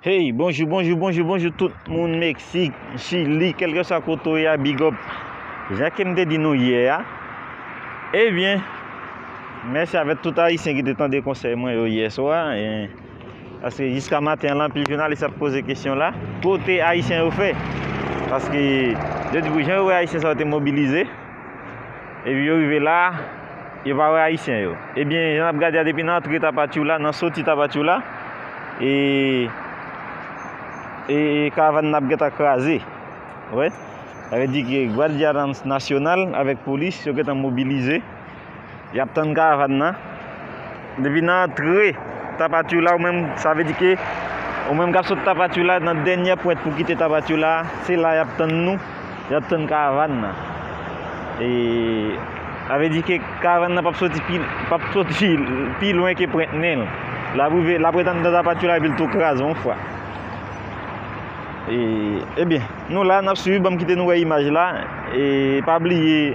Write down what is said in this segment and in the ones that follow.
Hey bonjou bonjou bonjou bonjou tout moun meksik chili kelkeswa kote ou ye a big up jan kem te di nou yè a ebyen mèsi avèk tout ayisyen ki te tande konsèy mwen yo yè swa paske jiska maten lan anpil jounalis ap poze kesyon la kote ayisyen yo fè paske yo di pou jan yo wè ayisyen sa yo te mobilize Epi yo rive la, yo pa wè Ayisyen yo. Ebyen, jan ap gade a depi nan antre Tapachou la, nan soti Tapachou la, e, e karavan nan ap gentan kraze. Wè? Sa vle di ke Guardia Nacional avèk polis yo gentan mobilize. Yap tann karavan nan. Depi nan antre Tapatioula ou menm sa vle di ke ou menm kap sot Tapatioula nan dènyè pwent pou kite Tapatioula a, se la yap tann nou, yap tann karavan nan. E sa vle di ke karavan nan pap soti pi pap soti pi lwen ke pwent nen l. Lap rive lap ret anndan Tapatioula epi l tou kraze yon fwa. E ebyen nou la nap swiv banm kite nou wè imaj la e pa bliye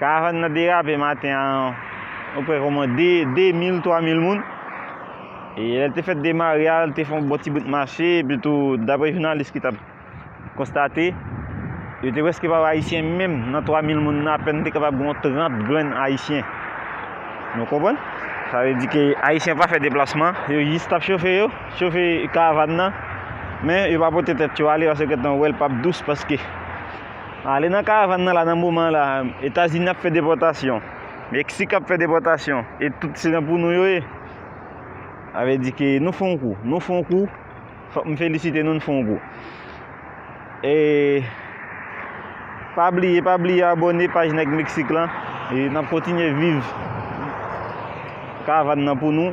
Karavan nan derape maten an o prè koman 2, 2 mil, 3 mil moun. E lè l te fèt demare a, l te fon bon ti bout mache, epi tou, dapre jounalis ki tap konstate, yo te preske pa wè Ayisyen menm nan 3 mil moun nan apèn te kapab gen yon 30 grenn Ayisyen. Nou konprann? Sa vle di ke Ayisyen pa fè deplasman, yo jis tap chofe yo, chofe karavan nan, men yo pa pote tèt yo ale paske yo gentan wè l pap dous paske. Ale nan karavan nan la nan moman la etazini ap fè depòtasyon meksik ap fè depòtasyon e tout se nan pou nou yo ye ave di ke nou fon kou nou fon kou fòk m felisite nou nou fon kou e pa bliye pa bliye abone paj nèg meksik lan e nap kontinye viv karavan nan pou nou